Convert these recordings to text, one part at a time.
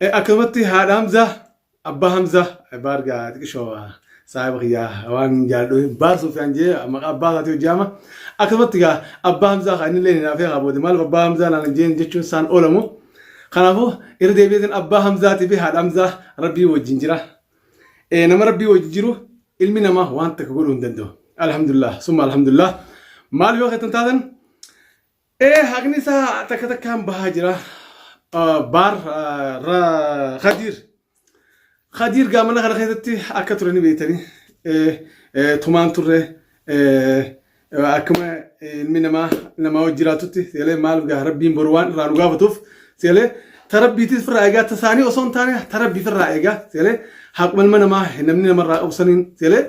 Eh, akkanumatti haadha Hamzaa, abbaa Hamzaa, eh, baar gaa xiqqishoo ah, saahiba kiyyaa waan hin jaalladhu hin baar Sufyaan jee maqaa abbaa isaatii hojjaama. Akkanumatti gaa abbaa Hamzaa kaa inni illee hin hinaafee haa booda maaliif abbaa Hamzaa naan hin jeen jechuun isaan oolamu. Kanaafuu irra deebi'eetiin abbaa Hamzaatii fi haadha Hamzaa rabbii wajjin jira. Eh, nama rabbii wajjin jiru ilmi namaa waan takka godhuu hin danda'u. Alhamdulillah, summa alhamdulillah. Maal yoo kettan taatan Ee haqni isaa takka takkaan bahaa jira. Ah, Baar ah, ra- Khadiir. Khadiir gaa mana kana keessatti akka ture ni beektani. Eh, eh, Tumaan turre eh, eh, akkuma ilmi namaa namaa wajjin jiraatutti seelee maaliif gaa rabbiin boru waan irraa nu gaafatuuf seelee ta rabbiitis firraa eegaa ta isaanii osoo hin taane ta rabbii firraa eegaa seelee haquma ilma namaa namni namarraa qabu saniin seelee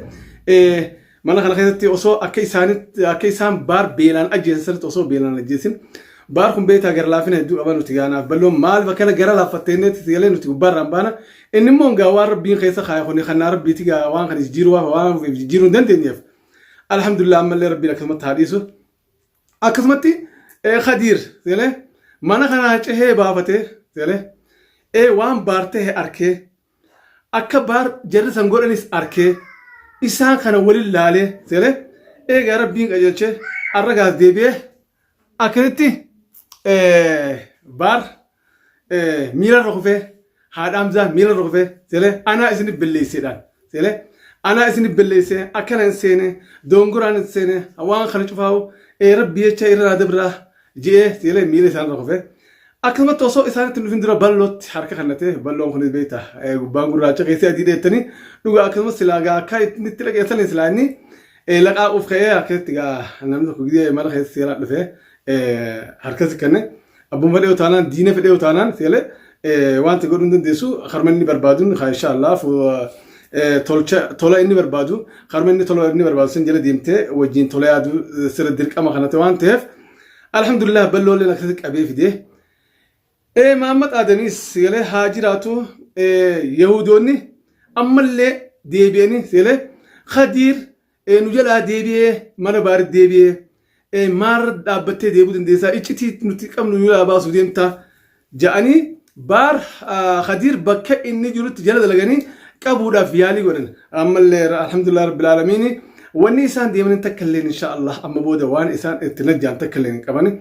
eh, Mana kana keessatti osoo akka isaanitti akka isaan baar beelaan ajjeesan sirriitti osoo beelaan ajjeesin baar kun beektaa gara laafina hedduu qaba nuti gaanaaf balloon maaliif akkana gara laaffattee inni itti galee nuti gubbaarraan baana inni immoo gaa waan rabbiin keessa kaaya kun kan naa rabbiiti gaa waan kan jijjiiruu waan waan ofiif jijjiiruu hin dandeenyeef alhamdulillah ammallee rabbiin akkasumatti haa dhiisu akkasumatti ee khadiir galee mana kanaa cehee baafatee galee ee waan baartee arkee Akka baar jarri san godhanis arkee isaan kana waliin laalee seeree eegaa rabbiin qajeelchee arra gaas deebi'ee akkasitti baar miila irra kufee haadhaamsaa miila irra kufee seeree anaa isin belleesseedhaan seeree anaa isin belleessee akkana hin seene doongoraan hin seene waan kana cufaa'u rabbi jecha irraa dabraa Ji'ee siilee miila isaanirra kufee akkasumatti osoo isaanitti nufin dura ballootti harka kannatee balloon kunis beekta gubbaan gurraacha keessee adii dheettanii dhugaa akkasumas silaa gaa akka inni itti dhaqeessanii silaa inni laqaaquuf ka'ee akkasitti gaa namni tokko gidee mana keessa seeraa dhufee harkasi kanne abbuma fedhee utaanaan diina fedhee utaanaan seelee Eh, Wanti godhuu hin dandeessu harma inni barbaaduun haa insha Allah fu- eh, tolcha tola inni barbaadu harma inni tola inni barbaadu san jala deemtee wajjin tola yaaduu eh, sirra dirqama kana ta'e waan ta'eef alhamdulillah ballooleen akkasitti qabee fidee Eh, Mahammad Aadamis sagalee haa jiraatu eh, Yahudoonni ammallee deebi'anii sagalee Khadiir Ee nu jalaa deebi'ee mana baaritti deebi'ee ee maal dhaabbattee deebuu dandeessaa iccitii nuti qabnu nu jalaa baasuu deemtaa ja'anii baar ah, Khadiir bakka inni jirutti jala dalaganii qabuudhaaf yaalii godhan ammallee alhamdulillah rabbil aalamiini wanni isaan deemanii takka illeen insha Allah amma booda waan isaan itti najjaan takka illeen hin qabani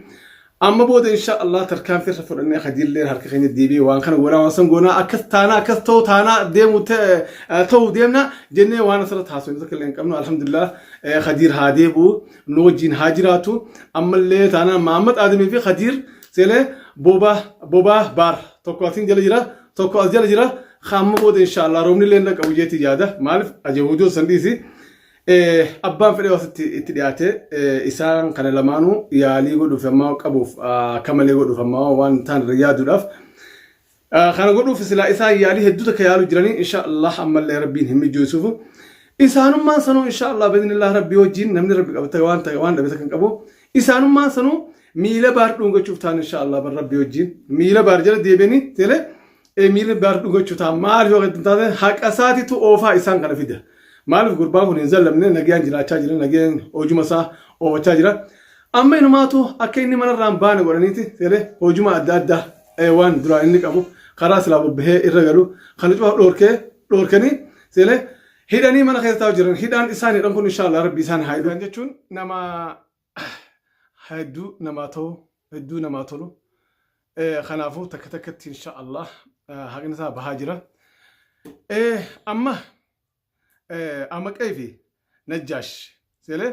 Amma booda insha Allah tarkaanfii irra fudhannee hadiillee harka keenya deebi'ee waan kana goonaa waan san goonaa akkas taanaa akkas ta'u taanaa deemu ta'e- eh, ta'u deemna jennee waan asirra taasifnu tokko illee hin qabnu alhamdulillah eh, hadiir haa deebi'u nu wajjin haa jiraatu ammallee taanaa Mahammad Aadamii fi hadiir seenee boobaa boobaa baar tokko asiin jala jira tokko as jala jira amma booda insha Allah roobni illee hin dhaqqabu jeetii yaada maaliif ajahuudoo san dhiisi Abbaan fedhee asitti itti dhiyaate isaan kana lamaanuu yaalii godhuuf ammaa qabuuf akka malee godhuuf ammaa waan ta'an irra yaaduudhaaf kana godhuuf silaa isaan yaalii hedduu takka yaalu jiranii insha Allah ammallee rabbiin hin mijeessuufu isaanummaan sanuu insha Allah biiznillah rabbii wajjin namni rabbi qabata waan ta'e waan dhabe takka hin qabu isaanummaan sanuu miila baar dhuungachuuf ta'an insha Allah bar rabbii wajjin miila baar jala deebi'anii teelee Emiirri Abdaar dhuga jechuun ta'a maaliif yoo hin taane haqa isaatiitu oofaa isaan kana fida. Maaliif gurbaan kun hin zallamne nagayaan jiraachaa jira nagayaan hojuma isaa oofachaa jira. Amma inumaatu akka inni manarraa hin baane godhaniiti jedhee hojuma adda addaa eh, waan duraan inni qabu karaa silaa bobbahee irra galu kana cufa dhoorkee dhoorkanii jedhee hidhanii mana keessa taa'u jiran hidhaan isaan hidhan kun inshaallah rabbi isaan haa hidhu jechuun nama hedduu namaa ta'u hedduu namaa tolu kanaafuu takka takkatti insha Allah haqni isaa bahaa jira amma amaqee fi najjaash seelee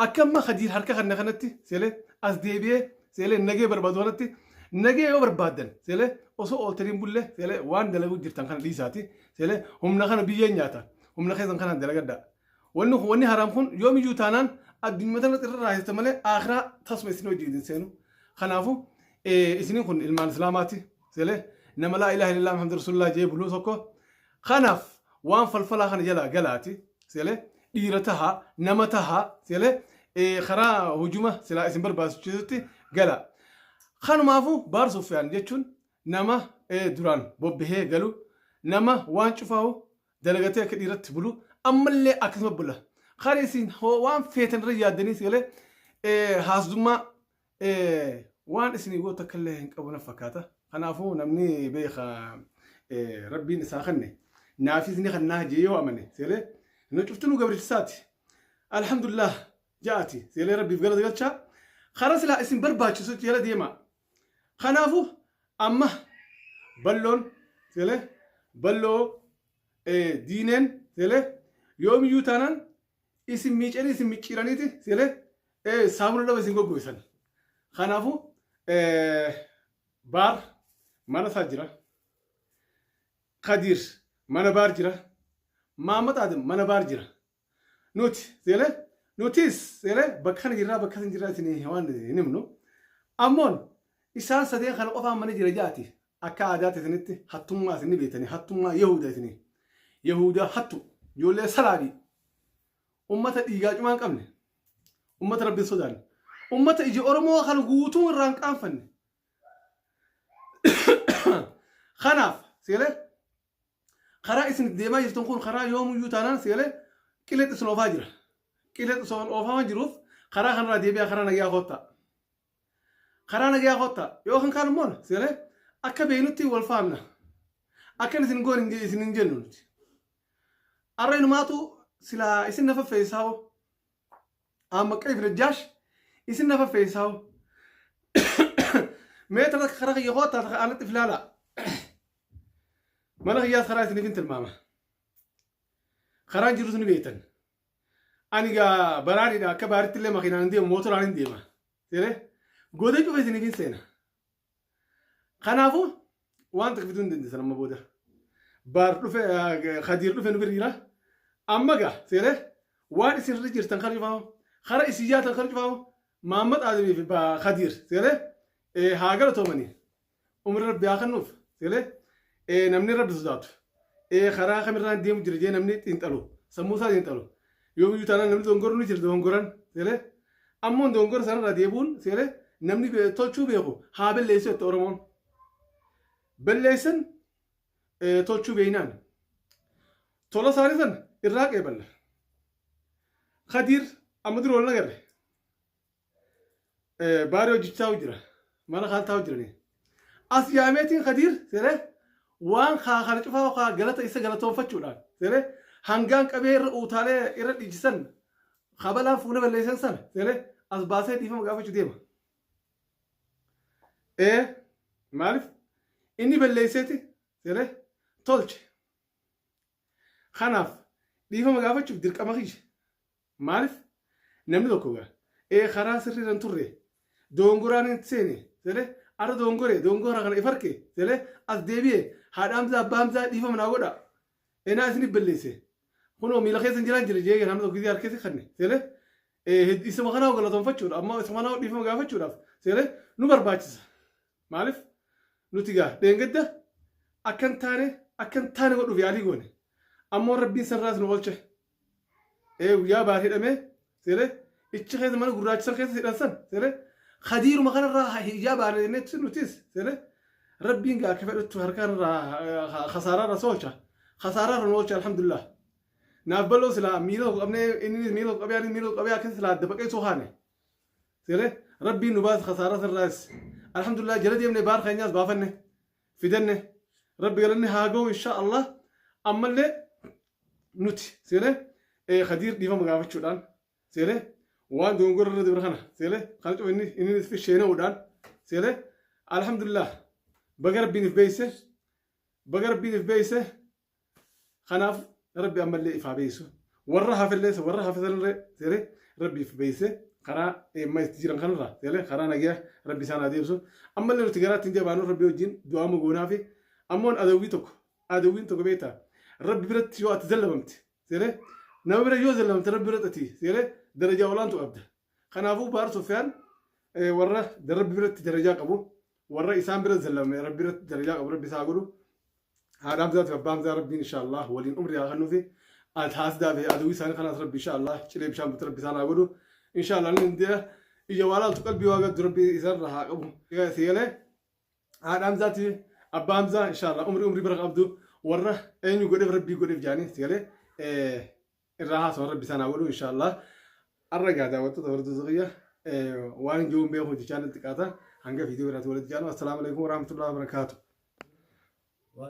akka amma hadiir harka kanna kanatti seelee as deebi'ee seelee nagee barbaadu kanatti nagee yoo barbaadan seelee osoo ooltaniin bullee seelee waan dalaguu jirtan kana dhiisaati seelee humna kana biyyeen nyaata humna keessan kana dalagadhaa Wanni kun wanni haraam kun yoomiyyuu taanaan addunyuma tanatti irra raahifta malee aakhiraa tasuma isin wajjin hin seenu. Kanaafu isiniin kun ilmaan islaamaati. Seelee nama laa ilaaha illallah muhammadu rasulullah jee buluu tokko. Kanaaf waan falfalaa kana jalaa galaati. Seelee dhiira taha nama taha seelee karaa hujuma silaa isin barbaachisutti gala. Kanumaafu baar suufiyaan jechuun nama duraan bobbahee galu nama waan cufaahu dalagatee akka dhiiratti bulu ammallee akkasuma bula kan isin hoo waan feetan irra yaaddaniis galee eh, haasdummaa eh, waan isin goota akka illee hin qabu na fakkaata kanaafuu namni beeka eh, rabbiin isaa kanne naafis ni kannaa jee yoo amane seelee nu cuftinuu gabrichisaati alhamdulillah ja'ati seelee rabbiif galata galchaa karaa silaa isin barbaachisu jala deemaa Kanaafuu amma balloon tele balloo diineen tele yoomiyyuu taanaan isin miicanii isin micciiraniiti tele saamuna dhaba isin goggoisan. Kanaafuu baar mana isaa jira. Kadiir mana baar jira. Maammat Aadam mana baar jira. Nuti seelee nutis seelee bakka kana jirraa bakka kana jirraa isin waan hin himnu. Ammoon isaan sadeen kana qofaan mana jira jaati akka aadaatti isinitti hattummaa isin ni beektanii hattummaa Yahuuda isinii. Yahuudaa hattu ijoollee salaabii ummata dhiigaa cumaa hin qabne ummata rabbiin sodaanne ummata ija Oromoo kan guutuu irraa hin qaanfanne. Kanaaf seelee Karaa isin itti deemaa jirtan kun karaa yoomuyyuu taanaan seelee qileetti isin oofaa jira. Qileetti isin oofaa waan jiruuf karaa kanarraa deebi'aa karaa nagayaa koottaa. Karaa nagayaa koottaa. Yoo kan kaan immoo seelee akka beeknutti wal faanna. Akkan isin goon isin hin jennu nuti. Arra inumaatu silaa isin na faffeessaa hoo. Aamma qeef najjaash isin na faffeessaa hoo. Mee tana karaa kiyya koottaa takka aanatti filaalaa. Mana kiyyaas karaa isiniif hin tilmaama. Karaan jirus ni beektan. Ani gaa baraadidha akka baaritti illee makiinaan hin deemu mootoraan hin deema. Seeree godee cufa isiniif hin seena. Kanaafuu waan takka fiduu hin dandeessan amma booda. Baar dhufe Khadiir dhufe nu bira jira. Amma gaa seeree waan isin irra jirtan kan cufaa kara isin yaatan kan cufaa Maammat Aadamii fi Khadiir seeree haa galatoomanii umri rabbi haa kennuuf seeree ee namni rabbi sodaatu ee karaa kamirraan deemu jira jee namni xiinxalu sammuu isaa xiinxalu yoomiyyuu taanaan namni dogongorru ni jira dogongoran seeree ammoo dogongora sanarraa deebuun seeree namni be- tolchuu beeku haa balleessu jette oromoon balleessan ee, tolchuu beeynaan tola isaanii san irraa qeeballa kadiir amma dura wal nagarre Baaree hojjechaa jira. Mana kaan taa'u jiranii. As yaameetiin Kadiir seeree waan kaa kana cufaa kaa galata isa galatoonfachuudhaan seeree hangaan qabee irra uutaalee irra dhiichisan kabalaan fuula balleessan sana seeree as baasee dhiifama gaafachuu deema. Ee maaliif inni balleesseeti seeree tolche. Kanaaf dhiifama gaafachuuf dirqama kiyya. Maalif namni tokko ga, ee karaa sirrii irra hin turre, dogongoraan inni itti seene, sele, arra dogongore, dogongora kana if arke, sele, as deebi'e, haadha hamzaa, abbaa hamzaa dhiifama naa godha, enaa isinif balleesse, kunoo miila keessan jiraan jira jee namni tokko gisee harkatti kanne, sele, isuma kanaa galatonfachuudha, amma isuma kanaa dhiifama gaafachuudhaaf, sele, nu barbaachisa. Maalif nuti ga, dheengadda akkan taane, akkan taane godhuuf yaalii goone, ammoo rabbiin sanirraas nu olche. ee guyyaa baar hidhame sire ichi keessa mana gurraacha san keessa hidhan san sire kadiiruma kanarraa hiyyaa baana jennetti nutis sire rabbiin gaa akka fedhattu harkaarraa kasaaraarra soolcha kasaaraarra nu oolcha alhamdulillah naaf baloo silaa miila tokko qabnee inni miila tokko qabee inni miila tokko qabee akka silaa adda baqee soo kaane sire rabbiin nu baasa kasaaraa sanirraas alhamdulillah jala deemne baar keenyaas baafanne fidanne rabbi galanni haa ga'u insha allah ammallee nuti seeree ee kadiir dhiifama gaafachuudhaan seeree waan dogongora irra dabre kana seeree kana cufa inni inni itti sheena'uudhaan seeree alhamdulillah baga rabbiin if beeyse baga rabbiin if beeyse kanaaf rabbi ammallee ifaa beeysu warra hafellee warra hafesanillee seeree rabbi if beeyse karaa eemma itti jiran kanarra seeree karaa nagaa rabbi isaan haa deebisu ammallee nuti garaatti hin jabaanu rabbi wajjin du'aa mogoonaa fi ammoon adawwii tokko adawwiin tokko beektaa rabbi biratti yoo ati zallabamte seeree nama bira yoo zallabamte rabbi biratti ati seeree darajaa olaantu qabda kanaafuu baar sofiyaan warra rabbi biratti darajaa qabu warra isaan bira zallabame rabbi biratti darajaa qabu rabbi isaa godhu haadha hamzaa fi abbaa hamzaa rabbiin inshaallah waliin umrii haa kennuufi ati haasdaa fi adawwii isaanii kanaas rabbi inshaallah cilee bishaan butte rabbi isaan haa godhu inshaallah inni ija waa laaltu qalbii waa gaddu rabbi isaan irraa haa qabu seelee haadha hamzaati abbaa hamzaa inshaallah umri umri bara qabdu warra eenyu godheef rabbii godheef jaanii si galee irraa haasawa rabbi isaan haa godhu inshaallah arra gaa daawwattoota horduu zuqiyya waan jiruun beekuun jechaan xiqqaata hanga viidiyoo biraatti walitti jaanu assalaamu alaikum warahmatullahi wabarakaatu